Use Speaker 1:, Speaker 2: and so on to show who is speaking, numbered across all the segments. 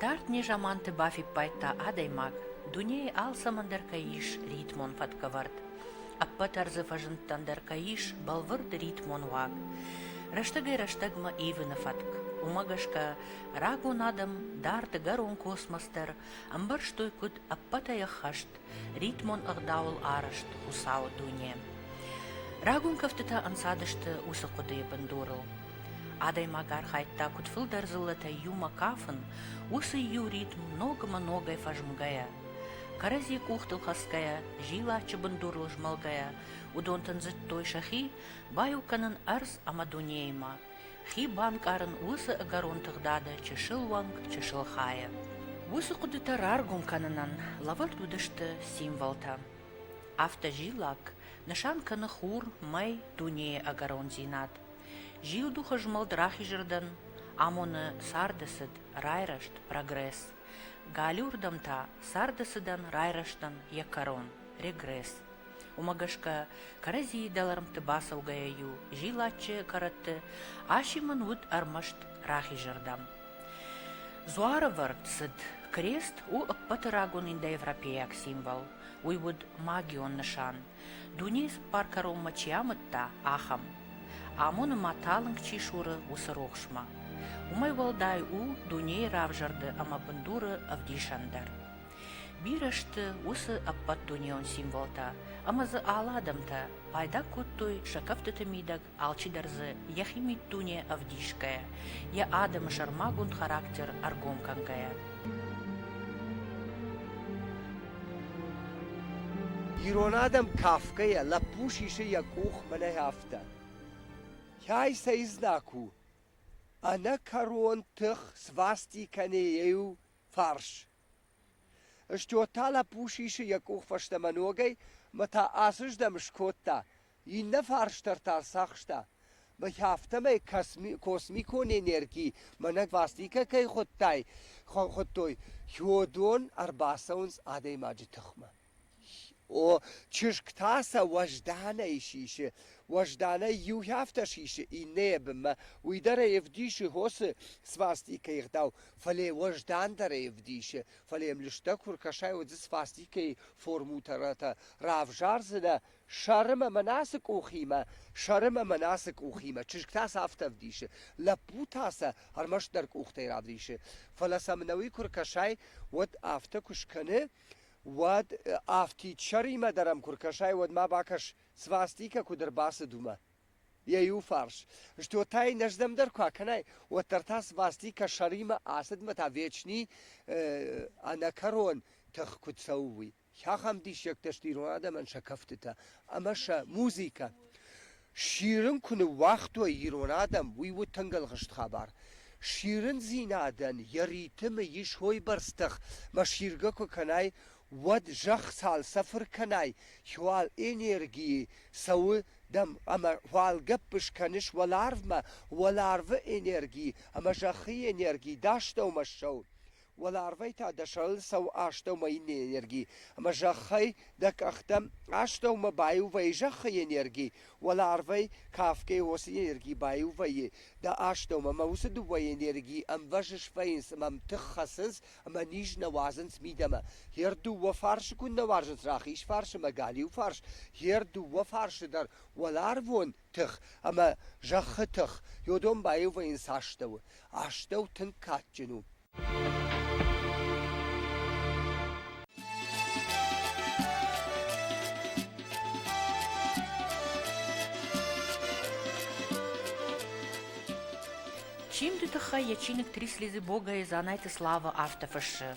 Speaker 1: Дард незаманты бафиппайдта адӕймаг, дунейы алцӕмӕн дӕр кӕй ис ритмон фӕткӕвӕрд, ӕппӕт ӕрдзы фӕзындтӕн дӕр кӕй ис бӕлвырд ритмон уаг. Рӕстӕгӕй-рӕстӕгмӕ ивыны фӕтк. Уымӕ гӕсгӕ рагон адӕм дард дӕгӕрон космос дӕр ӕмбӕрстой куыд ӕппӕтӕй ӕххӕст, ритмон ӕгъдауыл арӕзт Хуыцауы дуне. Рагон кӕфтытӕ ӕнцадысты уыцы хъуыдыйы бындурыл. Адӕймаг архайдта куыд фылдӕр дзыллӕтӕй иумӕ кафын, уыцы иу ритм ногмӕ-ногӕй фӕзмгӕйӕ, кӕрӕдзи къухтыл хӕцгӕйӕ, зилаччы бындурыл змӕлгӕйӕ, уыдон тындзыдтой сӕхи, баиу кӕнын ӕрдз ӕмӕ дунеимӕ, Хи банкъарын уыцы ӕгӕрон тыгъдады чысыл уӕнг, чысыл хайы. Уыцы хъуыдытӕ раргом кӕнынӕн лӕвӕрд уыдысты символтӕ. Автозиллаг нысан кӕны хур, мӕй, дунейы ӕгӕрондзинад. Зилдухы змӕлд рахизырдӕн амоны царды цыд, райрӕзт, прогресс. Галиуырдӕм та царды цыдӕн райрӕзтӕн йӕ кӕрон, регресс. Уымӕ гӕсгӕ кӕрӕдзийы дӕлӕрмтты бацӕугӕйӕ-иу зилаччы кӕрӕтты асимын уыд ӕрмӕст рахизырдӕм. Дзуарывӕрд цыд крест у ӕппӕты рагон индоевропейаг символ. Уый уыд магион нысан, дунейы цыппар кӕронмӕ чи амыдта, ахӕм. Амоны ма талынг чи суры, уыцы рухсмӕ. Уымӕй уӕлдай у дунейы равзӕрды ӕмӕ бындуры ӕвдисӕн дӕр. Бирӕ сты уыцы ӕппӕтдунеон символтӕ, ӕмӕ дзы алы адӕмтӕ пайда кодтой сӕ кӕфтыты мидӕг алчидӕр дзы йӕхи миддуне ӕвдисгӕйӕ, йӕ адӕмы сӕрмагонд характер ӕргом кӕнгӕйӕ.
Speaker 2: Ирон адӕм кафгӕйӕ, лӕппу сисы йӕ къух мӕнӕ афтӕ. Кӕй сӕ изнаг у? Ӕнӕкӕрон тых свасти кӕны иу фарс, Стьот та лӕппу сисы йӕ къух фӕстӕмӕ ногӕй мӕ та ацыздӕм скодта, иннӕ фарсдӕр та рцахста. Мӕхи афтӕмӕй косми космикон энерги мӕнӕг Вастикӕ кӕй хуыдтай, хуыдтой, Хёдон ӕрбацӕуынц адӕймаджы тыхмӕ. чызг та сӕ уӕзданӕй сисы уӕзданӕй иу афтӕ сисы иннӕйы бынмӕ уый дӕр ӕй ӕвдисы хосы свастикӕйы ӕгъдау фӕлӕ уӕздандӕр ӕй ӕвдисы фӕлӕ йӕм лыстӕг куы ркӕсай уыдзы свастикӕйы формутӕрӕтӕ равзардзынӕ сӕрым ӕмӕ насы къухимӕ сӕрым ӕмӕ насы къухимӕ чызг та сӕ афтӕ ӕвдисы лӕппу та сӕ ӕрмӕстдӕр къухтӕй равдисы фӕлӕ сӕм нӕуи куы ркӕсай уӕд афтӕ куы скӕны Уӕд афтидсӕримӕ дӕр ӕм куы ркӕсай, уӕд ма бакӕс, свастикӕ куыд ӕрбацыд, уымӕ. Йӕ иу фарс стьотӕй нӕздӕмдӕр куы акӕнай, уӕддӕр та свастикӕ сӕримӕ ацыдмӕ та вечни э, ӕнӕкӕрон тых куыд цӕуы, уый. Ахӕм диссӕгтӕ сты ирон адӕмӕн сӕ кӕфтытӕ ӕмӕ сӕ музыкӕ. Сирын куы ныууагътой ирон адӕм, уый у тынг ӕлгъыст хабар. Сирындзинадӕн йӕ ритмы ис уойбӕрц тых, мӕ сиргӕ куы кӕнай, уӕд зӕхх цалцӕфыр кӕнай, уал энергийы цӕуы дӕм ӕмӕ уал гӕпп скӕныс уӕларвмӕ, уӕларвы энерги ӕмӕ зӕххы энерги, дӕ астӕумӕ ссӕу. Уӕларвӕй та дӕ сӕрыл цӕуы астӕумӕйы энерги, ӕмӕ зӕххӕй дӕ къӕхтӕм астӕумӕ баиу вӕййы зӕххы энерги, уӕларвӕй кафгӕ уыцы энерги баиу вӕййы дӕ астӕумӕ, ӕмӕ уыцы дыууӕ энергийы ӕмвӕзыс вӕййынц ӕмӕ ӕмтых хӕцынц ӕмӕ низ нӕ уадзынц мидӕмӕ. Йе рдыууӕ фарсы куыннӕ уарзынц рахиз фарс ӕмӕ галиу фарс, йе рдыууӕ фарсы дӕр уӕларвон тых ӕмӕ зӕххы тых, йодон баивыйын цы астӕуы. Астӕу тынг кадджын у.
Speaker 1: Чиндуты тыххӕй йӕ чиныг «Три слезы Бога» и «Занайты слава» афтӕ фыссы.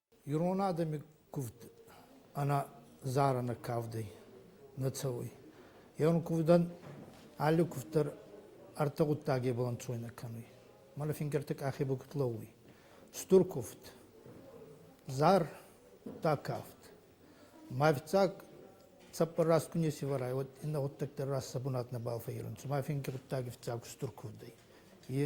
Speaker 3: Ирон адӕми кувд ӕнӕдзарӕнӕ кавдӕй нӕ цӕуй. Еуӕн кувдӕн алли кувд дӕр ӕртӕ гъуддагебӕл ӕнцойнӕ кӕнуй. Мӕнӕ фингӕрти къахе ба куд лӕууй. Стур кувд, зартӕ кафт. Ма ӕфицаг цӕппӕр раст ку неци вӕрай, уӕд иннӕ гъуддӕгтӕ раст сӕ бунат нӕбал фӕййерунцӕ. Ма финги гъуддаг ӕфицаг стур кувдӕй. Е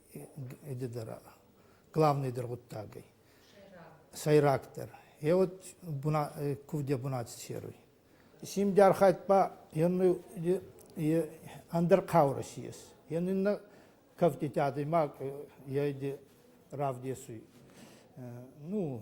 Speaker 3: главный дӕр гъуддагӕй. Сӕйрагдӕр. Е вот кувде бунати серуй. Симдярхайт ба енну ӕндӕр хъаурӕ сиес. Еннинна кӕфтити адӕймаг ейди равдесуй. Ну,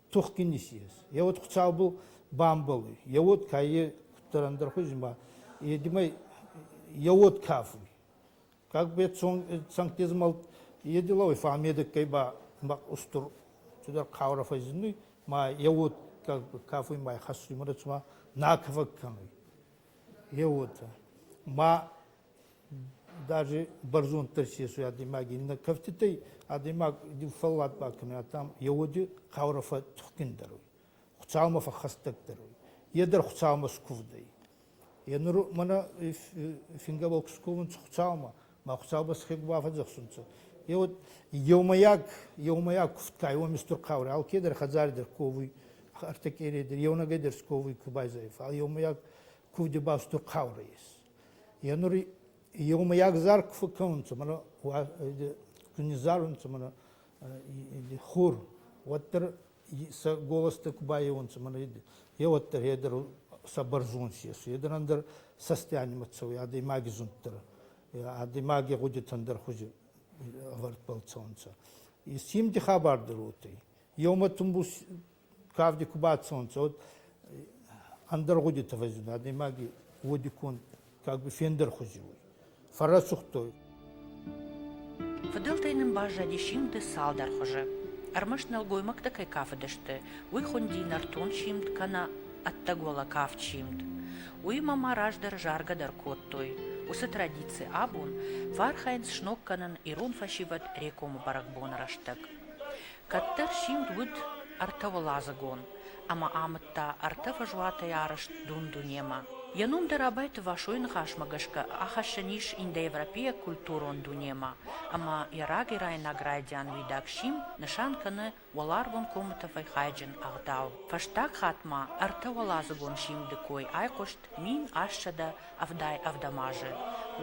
Speaker 3: тухгин исиес. Е уод хуцаубыл бамбӕлуй, е уод каййи худдӕрӕндӕр хузи ма едимӕй е уод кафуй. Как бе цӕнгтизмӕл едилауй фамедеккӕй ба устур тудӕр хъаурӕ фӕззиннуй, ма е уод как бы кафуй ма хӕссуй, мадӕ цума накӕфӕг кӕнуй. Е уотӕ. Ма Даже бӕрзонддӕр сесуй адӕймаги нӕ кӕфтитӕй, адӕймаг фӕллад бакӕнуй, ам е уоди хъаурӕ фӕттухгиндӕр уй, Хуцаумӕ фӕххӕстӕгдӕр уй, е дӕр Хуцаумӕ скувд ӕй. Е нур мӕнӕ фингӕбӕл ку сковунцӕ Хуцаумӕ, ма Хуцаубӕл схег бафӕдзӕхсунцӕ, е уод еумӕйаг, еумӕйаг кувд ка ӕй, уоми стур хъаурӕ, алкедӕр хӕдзари дӕр ковуй, ӕртӕкъерей дӕр, еунӕгӕй дӕр сковуй ку байзайа, фал еумӕйаг кувдибӕл стур хъаурӕ ес. Е нур еумӕйагдзар ку фӕккӕнунцӕ, мӕнӕ ку низзарунцӕ мӕнӕ хур, уӕддӕр сӕ голостӕ ку байеунцӕ мӕнӕ е уӕддӕр е дӕр сӕ бӕрзонд ес, е дӕр ӕндӕр цӕстӕй анимӕ цӕуй адӕймаги зунддӕр, адӕймаги гъудитӕн дӕр хузи ӕвӕрд бӕлцӕунцӕ. Симди хабар дӕр уотӕй. Еумӕ тумбу кавди ку бацунцӕ, уӕд ӕндӕр гъудити фӕззиндӕй, адӕймаги уодиконд как бы фендӕрхузи уй. Фӕррӕсугъдтой.
Speaker 1: Фыдӕлтӕй нын баззади симд цалдӕр хуызы. Ӕрмӕст нӕлгоймӕгтӕ кӕй кафыдысты, уый хуынди нӕртон симд кӕнӕ ӕддӕгуӕлӕ кафт симд. Уыимӕ ма раздӕр заргӕ дӕр кодтой. Уыцы традици абон фӕархайынц сног кӕнын ирон фӕсивӕд Рекомы бӕрӕгбоны рӕстӕг. Кӕддӕр симд уыд ӕртӕуӕладзыгон ӕмӕ амыдта ӕртӕ фӕзуатӕй арӕзт дун-дунемӕ. Йӕ ном дӕр Абайты Васойы ныхасмӕ гӕсгӕ ахӕссӕн ис индоевропейаг культурон дунемӕ ӕмӕ йӕ рагӕйраинаг райдиан уидаг сим нысан кӕны уӕларвон комы тӕфӕй хайджын ӕгъдау. Фӕстаг хатт ма ӕртӕуӕладзыгон симды кой айхъуыст мин ассӕдӕ ӕвдай-ӕвдӕм азы,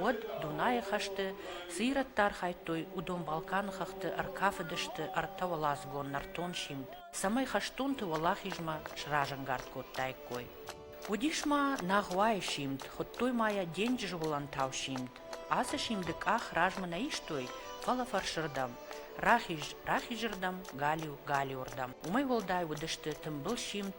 Speaker 1: уӕд Дунайы хӕсты цы ирӕттӕ архайдтой, уыдон Балканы хӕхты ӕркафыдысты ӕртӕуӕладзыгон нӕртон симд, цӕмӕй хӕстонты уӕлахизмӕ сразӕнгард кодтаиккой. Уыдис ма Нагъуайы симд, хуыдтой ма йӕ денджызы уылӕнтау симд. Ацы симды къах размӕ нӕ истой, фӕлӕ фӕрсырдӕм, рахиз, рахизырдӕм, галиу, галиуырдӕм. Уымӕй уӕлдай уыдысты тымбыл симд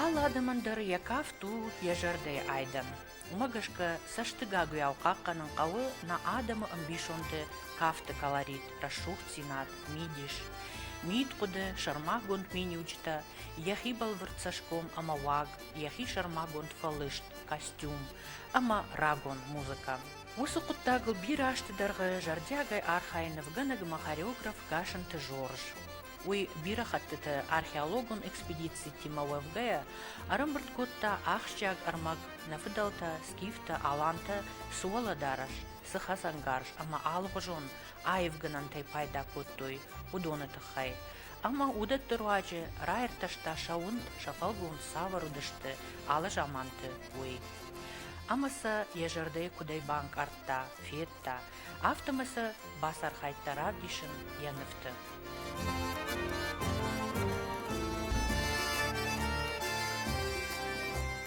Speaker 1: Алы адӕмӕн дӕр йӕ кафт у йӕ зӕрдӕйы айдӕн. Уымӕ гӕсгӕ цӕстыгагуыйау хъахъхъӕнын хъӕуы нӕ адӕмы ӕмбисонды кафты колорит, рӕсугъддзинад, мидис. Мидхъуыды, сӕрмагонд миниуджытӕ, йӕхи бӕлвырд цӕсгом ӕмӕ уаг, йӕхи сӕрмагонд фӕлыст, костюм ӕмӕ рагон музыкӕ. Уыцы хъуыддагыл бирӕ азты дӕргъы зӕрдиагӕй архайы нывгӕнӕг ӕмӕ хореограф Гасанты Жорж. Уый бирӕ хӕттыты археологон экспедицитимӕ уӕвгӕйӕ, ӕрӕмбырд кодта ахсджиаг ӕрмӕг, нӕ фыдӕлтӕ, скифтӕ, алантӕ цы уӕлӕдарӕс, цы хӕцӕнгарз ӕмӕ алыгъуызон аивгӕнӕнтӕй пайда кодтой, уыдоны тыххӕй. Ӕмӕ уыдӕтты руаджы раиртӕста сӕ уынд, сӕ фӕлгонц цавӕр уыдысты, алы заманты, уый. Ӕмӕ сӕ йӕ зӕрдӕйы куыдӕй банкъардта, федта, афтӕмӕй сӕ бацархайдта равдисын йӕ нывты.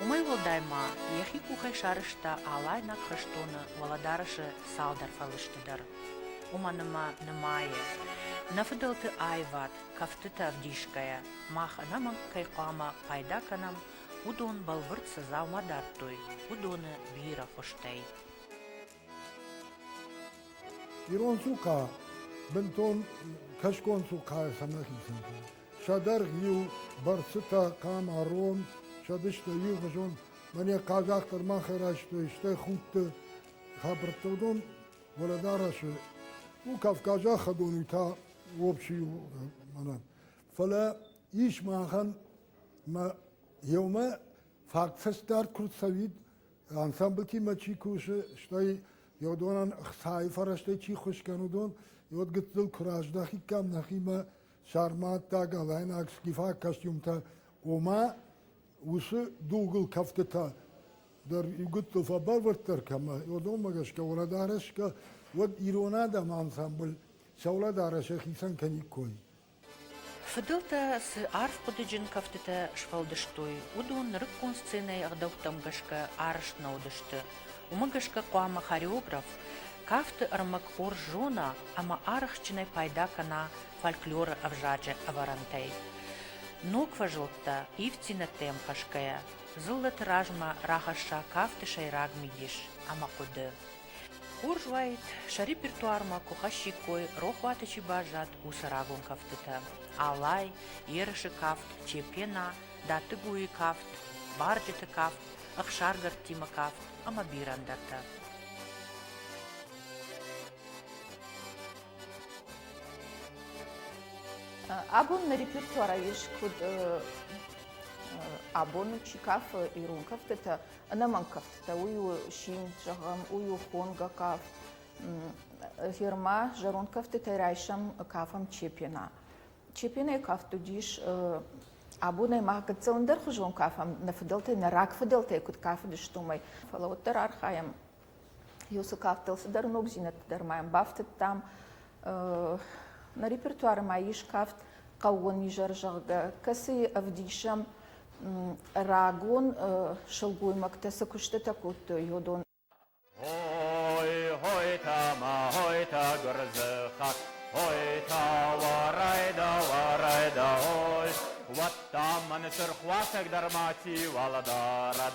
Speaker 1: Уымӕй уӕлдай ма йӕхи къухӕй сарызта алайнаг хӕстоны уӕлӕдарӕсы цалдӕр фӕлысты дӕр. Уымӕн ӕмӕ нымайы, нӕ фыдӕлты аивад, кӕфтытӕ ӕвдисгӕйӕ, мах ӕнӕмӕнг кӕй хъуамӕ пайда кӕнӕм Уыдон бӕлвырд цы дзаума дардтой, уыдоны бирӕ хуызтӕй.
Speaker 4: Ирон цухъа бынтон кӕсгон цухъайӕ сӕмӕхицӕн. Сӕ дӕргъ иу бӕрцытӕ, хъама, рон, сӕ дыстӕ иугъуызон. Мӕнӕ хъазахъ дӕр мах райстой, стӕй худты хабӕрттӕ. Уыдон уӕлӕдарӕсы у кавказаг хӕдон, уый та обчы у мӕнӕн. Фӕлӕ ис махӕн Мӕ иумӕ фактфӕсдард куы цӕуид, ансамблтимӕ чи кусы, стӕй иодонӕн ӕхцайы фӕрӕзтӕй чи хуыз кӕн, уыдон иод гыццыл куы раздахиккам нӕхимӕ сарматтаг, алайнаг, скифаг костюмтӕ, ома уыцы дугыл кӕфтытӕ дӕр иу гыццыл фӕбӕлвырддӕр кӕмӕ, иодонмӕ гӕсгӕ, уӕлӕдарӕс кӕ, уӕд ирон адӕмы ансамбль сӕ уӕлӕдарӕс йӕхицӕн кӕниккой. Фыдӕлтӕ
Speaker 1: цы арф хъуыдыджын кӕфтытӕ сфӕлдыстой, уыдон нырыккон сценӕйы ӕгъдӕуттӕм гӕсгӕ арӕзт нӕ уыдысты. Уымӕ гӕсгӕ хъуамӕ хореограф кафты ӕрмӕг хорз зона ӕмӕ арӕхстджынӕй пайда кӕна фольклоры ӕвзаджы ӕвӕрӕнтӕй. Ног фӕзылдтӕ ивддзинӕдтӕм хӕсгӕйӕ, дзыллӕты размӕ рахӕсса кафты сӕйраг мидис ӕмӕ хъуыды. Хорз уаид, сӕ репертуармӕ куы хӕссиккой рохуаты чи баззад, уыцы рагон кӕфтытӕ: алай, ерысы кафт, чепена, дӕттыгуйы кафт, барджыты кафт, ӕхсаргӕрдтимӕ кафт ӕмӕ бирӕ ӕндӕртӕ.
Speaker 5: Абон на репертуара есть куыд абоны чи кафы ирон кӕфтытӕ, ӕнӕмӕнгкӕфтытӕ, уый у син, зӕгъӕм, уый у хонгӕ кафт. Герма зӕронд кӕфтытӕй райсӕм, кафӕм чепена. Чепенайы кафт уыдис абонӕй мах гыццылӕндӕрхуызон кафӕм, нӕ фыдӕлтӕй, нӕ рагфыдӕлтӕй куыд кафыдысты, уымӕй. Фӕлӕ уӕддӕр архайӕм Йосы кафтыл цыдӕр ногдзинӕдтӕ дӕр ма йӕм бафтыдтам. Нӕ репертуары ма ис кафт хъӕууон изӕр, зӕгъгӕ, кӕцыйы ӕвдисӕм рагон сылгоймӕгтӕ цы куыстытӕ кодтой йодон. Ой,
Speaker 6: ой, тама, ой, та гуырдзы хат, ой, та уарайда, уарайда, ой, уӕд та мӕн сырх уасӕг дӕр ма чи уӕлдӕрад.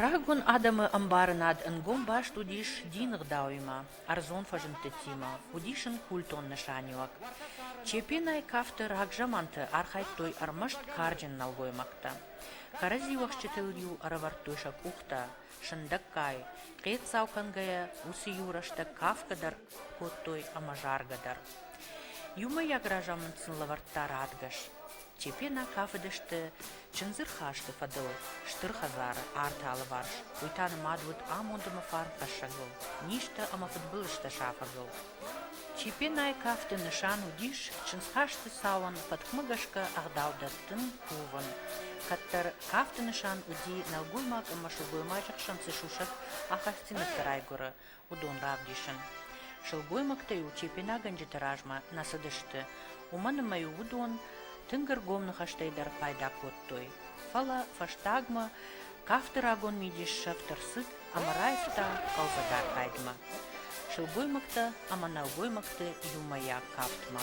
Speaker 1: Рагон адӕмы ӕмбарынад ӕнгом баст уыдис дины гъдауимӕ, ӕрдзон фӕзындтытимӕ, уыдис ын культон нысаниуӕг. Чепенӕй кафты рагзаманты архайдтой ӕрмӕст карджын нӕлгоймӕгтӕ. Кӕрӕдзиуӕхсджытыл-иу ӕрӕвӕрдтой сӕ къухтӕ, сындӕггай, хъеццау кӕнгӕйӕ, уыцы-иу рӕстӕг кафгӕ дӕр кодтой ӕмӕ заргӕ дӕр. Иумӕйаг разамынд сын лӕвӕрдта радгӕс. Чепена кафыдысты чындзы рхасты фӕдыл стыр хӕдзары арты алыварс, уый та нымад уыд амондымы фарн хӕссӕгыл, низтӕ ӕмӕ фыдбылызтӕ сафӕгыл. Чепенайы кафты нысан уыдис чындзхасты цауӕн фӕткмӕ гӕсгӕ ӕгъдау дӕттын, кувын. Кӕддӕр кафты нысан уыди нӕлгоймаг ӕмӕ сылгоймаджы хсӕн цы сусӕг ахастдзинӕдтӕ райгуыры, уыдон равдисын. Сылгоймӕгтӕ-иу тепенагӕнджыты размӕ нӕ цыдысты, уымӕн ӕмӕ-иу уыдон тынг ӕргом ныхӕстӕй дӕр пайда кодтой. Фӕлӕ фӕстагмӕ кафты рагон мидис сӕфт ӕрцыд ӕмӕ раивта хъӕлдзӕг архайдмӕ сылгоймӕгтӕ ӕмӕ нӕлгоймӕгты иумӕйаг кафтмӕ.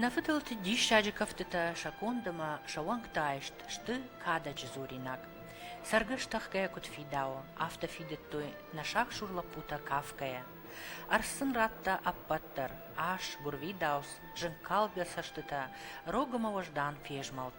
Speaker 1: Нӕ фыдӕлты диссаджы кӕфтытӕ сӕ конд ӕмӕ сӕ уӕнгты айст сты кадӕджы дзуринаг. Цӕргӕс тӕхгӕ куыд фидауы, афтӕ фидыдтой нӕ сагсур лӕппутӕ кафгӕйӕ. Арс сын радта ӕппӕт дӕр ас, гуырвидауц, зынкалгӕ цӕстытӕ, рог ӕмӕ уӕздан фезмӕлд.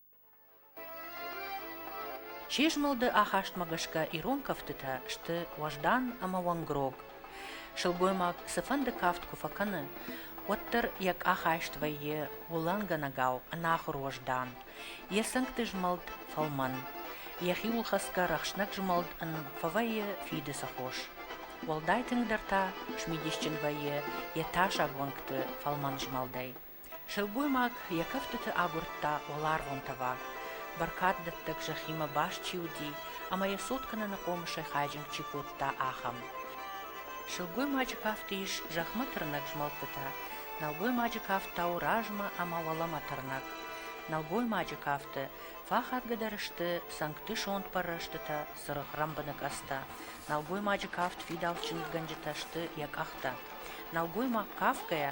Speaker 1: Се змӕлды ахастмӕ гӕсгӕ ирон кӕфтытӕ сты уӕздан ӕмӕ уӕнгрог. Сылгоймаг цыфӕнды кафт куы фӕкӕны, уӕддӕр йӕ къахайст вӕййы уылӕнгӕнӕгау ӕнахуыр уӕздан, йӕ цӕнгты змӕлд фӕлмӕн, йӕ хиуылхӕцгӕ рӕхснӕг змӕлд ын фӕвӕййы фиды сыхос. Уӕлдай тынгдӕр та смидисджын вӕййы йӕ тасаг уӕнгты фӕлмӕн змӕлдӕй. Сылгоймаг йӕ кӕфтыты агуырдта уӕларвон тӕваг, бӕркаддӕттӕг зӕххимӕ баст чи уыди ӕмӕ йӕ цот кӕныны хъомысӕй хайджынг чи кодта, ахӕм. Сылгоймаджы кафты ис зӕхмӕ тырнӕг змӕлдтытӕ, нӕлгоймаджы кафт та у размӕ ӕмӕ уӕлӕмӕ тырнӕг. Нӕлгоймаджы кафты фӕхатгӕдӕр сты цӕнгты сонт пӕррӕстытӕ, цыргъ рӕмбыныкъӕдзтӕ. Нӕлгоймаджы кафт фидауц чындзгӕнджытӕ сты йӕ къӕхтӕ. Нӕлгоймаг кафгӕйӕ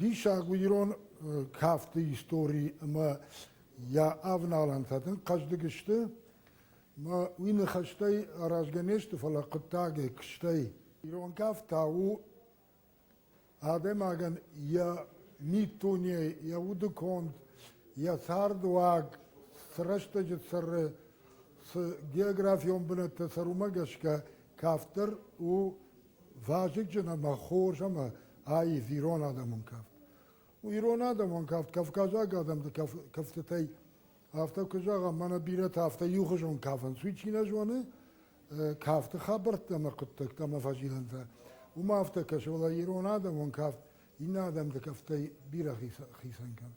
Speaker 4: Диссаг у ирон кафты истори ӕмӕ йӕ авналӕнтӕ тынг хъӕздыг сты. Мӕ уый ныхӕстӕй аразгӕ не сты, фӕлӕ хъуыддагӕй, куыстӕй. Ирон кафт та у адӕймагӕн йӕ миддунейы, йӕ уды конд, йӕ цардуаг, цы рӕстӕджы цӕры, цы географион бынӕттӕ цӕр, уымӕ гӕсгӕ кафт дӕр у вазыгджын ӕмӕ хорз ӕмӕ аив ирон адӕмон кафт. Ирон адӕмон кафт кавказаг адӕмты кӕфтытӕй афтӕ куы зӕгъӕм, мӕнӕ бирӕтӕ афтӕ иухуызон кафынц. Уый чи нӕ зоны, кафты хабӕрттӕ ӕмӕ хъуыддӕгтӕ ӕмӕ фӕзилӕнтӕ. Уымӕ афтӕ кӕсы, фӕлӕ ирон адӕмон кафт иннӕ адӕмты кафтӕй бирӕ хицӕн кӕны.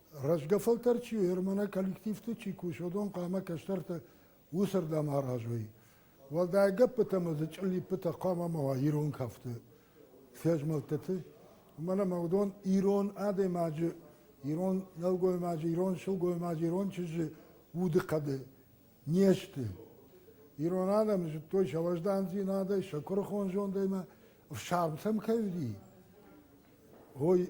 Speaker 4: рӕзгӕ фӕлтӕр чи у, ермонӕ коллективты чи кус, уыдон хъуамӕ кӕстӕрты уыцырдӕм аразой. Уӕлдай гӕппытӕ ӕмӕ дзы чъыллиппытӕ хъуамӕ ма уа ирон кафты фезмӕлдтыты. Уымӕн ӕмӕ уыдон ирон адӕймаджы, ирон нӕлгоймаджы, ирон сылгоймаджы, ирон чызджы удыхъӕды не сты. Ирон адӕм зыдтой сӕ уӕздандзинадӕй, сӕ куырыхон зондӕй ӕмӕ ӕфсарм сӕм кӕй уыди. Ой,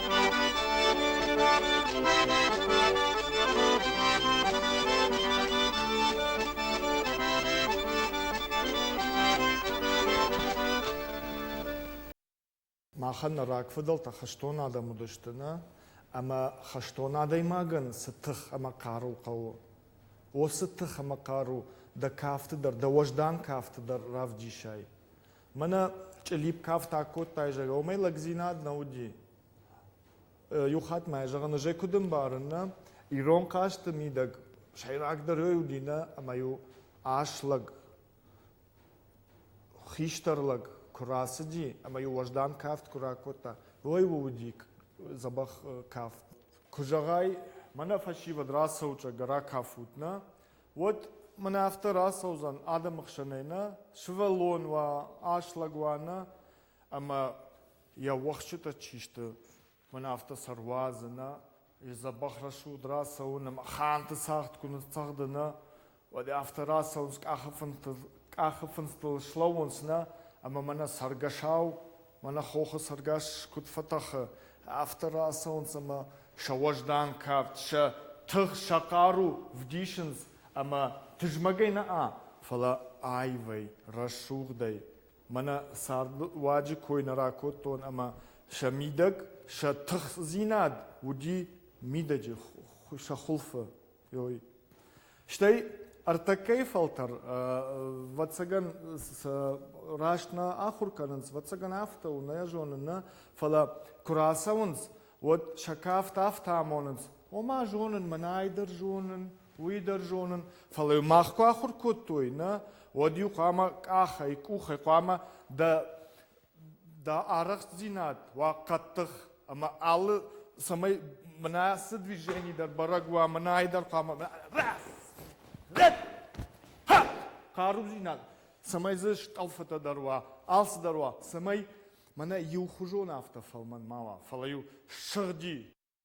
Speaker 7: Махӕн нӕ рагфыдӕлтӕ хӕстон адӕм уыдысты нӕ, ӕмӕ хӕстон адӕймагӕн цы тых ӕмӕ хъару хъӕуы, о, цы тых ӕмӕ хъару дӕ кафты дӕр, дӕ уӕздан кафты дӕр равдисай. Мӕнӕ чъилипкафт акодтай зӕгъгӕ, уымӕй лӕгдзинад нӕ уыди. Иу хатт мӕ зӕгъын, ӕз куыд ӕмбарын, нӕ? Ирон хъазты мидӕг сӕйрагдӕр ой уыди нӕ ӕмӕ-иу ас лӕг, хистӕр лӕг куы рацыди ӕмӕ-иу уӕздан кафт куы ракодта, ой у уыди дзӕбӕх кафт. Куы зӕгъай, мӕнӕ фӕсивӕд рацӕут, зӕгъгӕ, ракафут, нӕ? уӕд мын афтӕ рацӕудзӕн адӕмы хсӕнӕй нӕ сывӕллон уа, аслаг уа нӕ ӕмӕ йӕ уӕхсчытӕ чи сты, мын афтӕ сӕ руадзы нӕ, йӕ дзӕбӕх рӕсугъд рацӕуын ӕмӕ ханты цагъд куы ныццӕгъды нӕ, уӕд афтӕ рацӕуынц къахы фындзтыл, къахы фындзтыл слӕууынц нӕ ӕмӕ мӕнӕ цӕргӕсау Мӕнӕ хохы цӕргӕс куыд фӕтӕхы, афтӕ рацӕуынц ӕмӕ сӕ уӕздан кафт, сӕ тых, сӕ хъару вдисынц ӕмӕ тызмӕгӕй нӕ, фӕлӕ аивӕй, рӕсугъдӕй. Мӕнӕ цард руаджы кой нӕ ракодтон ӕмӕ сӕ мидӕг сӕ тыхдзинад уыди мидӕджы сӕ хуылфы. Ой. Стӕй ӕртӕккӕйы фӕлтӕр, вӕццӕгӕн, раст нӕ ахуыр кӕнынц, вӕццӕгӕн афтӕ у, нӕ зоны, нӕ, фӕлӕ куы рацӕуынц, уӕд сӕ кафт афтӕ амонынц, ома зонын, мӕнӕй дӕр зонын, уый дӕр зонын, фӕлӕ мах куы ахуыр кодтой, нӕ, уӕд-иу хъуамӕ къахӕй, къухӕй хъуамӕ дӕ дӕ арӕхстдзинад уа хъӕддых ӕмӕ алы цӕмӕй мына цы движени дӕр бӕрӕг уа мынайы дӕр хъуамӕ хъарудзинад цӕмӕй дзы стъӕлфытӕ дӕр уа алцыдӕр уа цӕмӕй мӕнӕ иухуызон афтӕ фӕлмӕн ма уа фӕлӕ иу сыгъди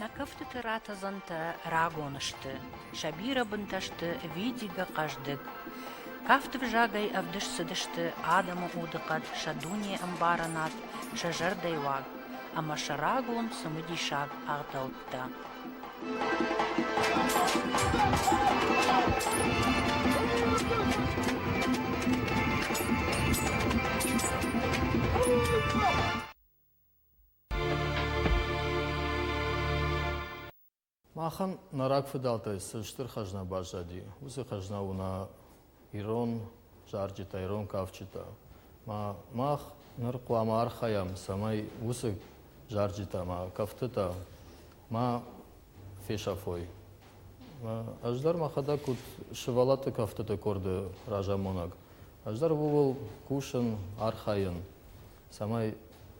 Speaker 1: Нӕ кӕфтыты ратӕдзӕнтӕ рагон сты, сӕ бирӕ бынтӕ сты видигӕ хъӕздыг. Кафты взагӕй ӕвдыст цыдысты адӕмы удыхъӕд, сӕ дунеӕмбарынад, сӕ зӕрдӕйуаг. ӕмӕ сӕ рагон цымыдисаг ӕгъдӕуттӕ.
Speaker 8: Махӕн нӕ рагфыдӕлтӕй цы стыр хӕзна баззади, уыцы хӕзна у нӕ ирон зарджытӕ, ирон кафджытӕ. Мах ныр хъуамӕ архайӕм, цӕмӕй уыцы зарджытӕ ӕмӕ кӕфтытӕ ма фесӕфой. Ӕз дӕр мӕхӕдӕг куыд сывӕллӕтты кӕфтыты къорды разамонӕг, ӕз дӕр ууыл кусын, архайын. цӕмӕй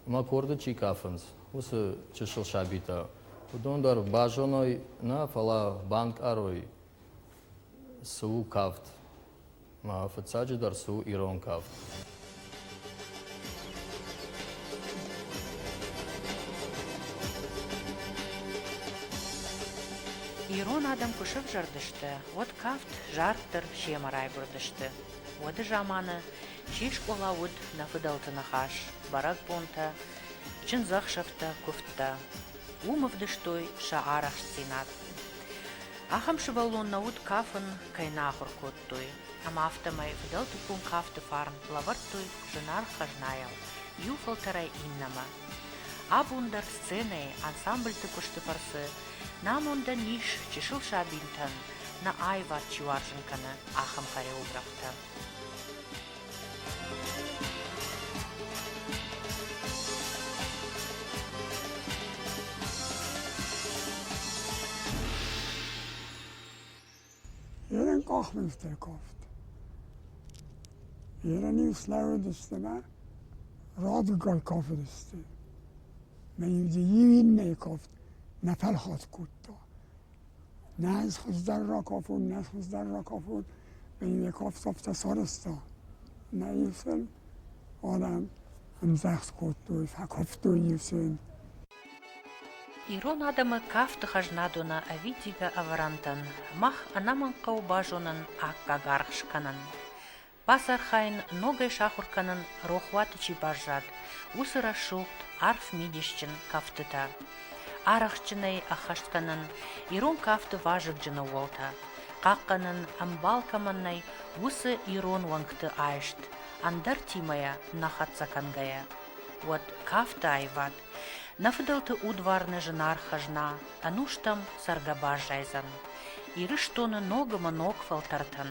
Speaker 8: мӕ къорды чи кафынц, уыцы чысыл сабитӕ уыдон дӕр базоной нӕ, фӕлӕ банкъарой, цы у кафт, мӕ фыццаджыдӕр цы у ирон кафт.
Speaker 1: Ирон адӕм куы сӕвзӕрдысты, уӕд кафт зарддӕр семӕ райгуырдысты. Уӕды заманы Чи скъола уыд, нӕ фыдӕлты ныхас, бӕрӕгбонтӕ, чындзӕхсӕвтӕ, куывдтӕ. Уым ӕвдыстой сӕ арӕхстдзинад. Ахӕм сывӕллон нӕ уыд кафын, кӕй нӕ ахуыр кодтой. Ӕмӕ афтӕмӕй фыдӕлты ком кафты фарн лӕвӕрдтой зынаргъ хӕзнайыл иу фӕлтӕрӕй иннӕмӕ. Абон дӕр сценӕйы, ансамбльты куысты фӕрцы нӕ амондӕн ис чысыл сабинтӕн нӕ аивад чи уарзын кӕны, ахӕм хореографтӕ.
Speaker 9: Ирен къахмӕлтӕковт. Ирен-иу слӕууыдысты мӕ радгар кафыдысты. Мӕ иуды иу иннӕйы кафт нӕ фӕлхат кодта. Нӕз хуыздӕр ракафон, нӕ хуыздӕр ракафон, ин йе кафтӕфтӕ сарӕзта. Нӕ исын арӕн ӕмдзӕхх кодтой, фӕкафтой исын.
Speaker 1: Ирон адӕмы кафты хӕзнадонӕ ӕвидигӕ ӕвӕрӕнтӕн мах ӕнӕмӕнгхъӕуы базонын аккаг аргъ скӕнын. бацархайын, ногӕй сахуыр кӕнын рохуаты чи баззад, уыцы рӕсугъд, арф мидисджын кӕфтытӕ. Арӕхстджынӕй ӕххӕст кӕнын ирон кафты вазыгджын ӕууӕлтӕ, хъахъхъӕнын, ӕмбал кӕмӕн нӕй, уыцы ирон уӕнгты айст, ӕндӕртимӕ йӕ нӕ хӕццӕ кӕнгӕйӕ. Уӕд кафты аивад, нӕ фыдӕлты удварны зынаргъ хӕзна ӕнустӕм цӕргӕ баззайдзӕн Ирыстоны ног ӕмӕ ног фӕлтӕртӕн,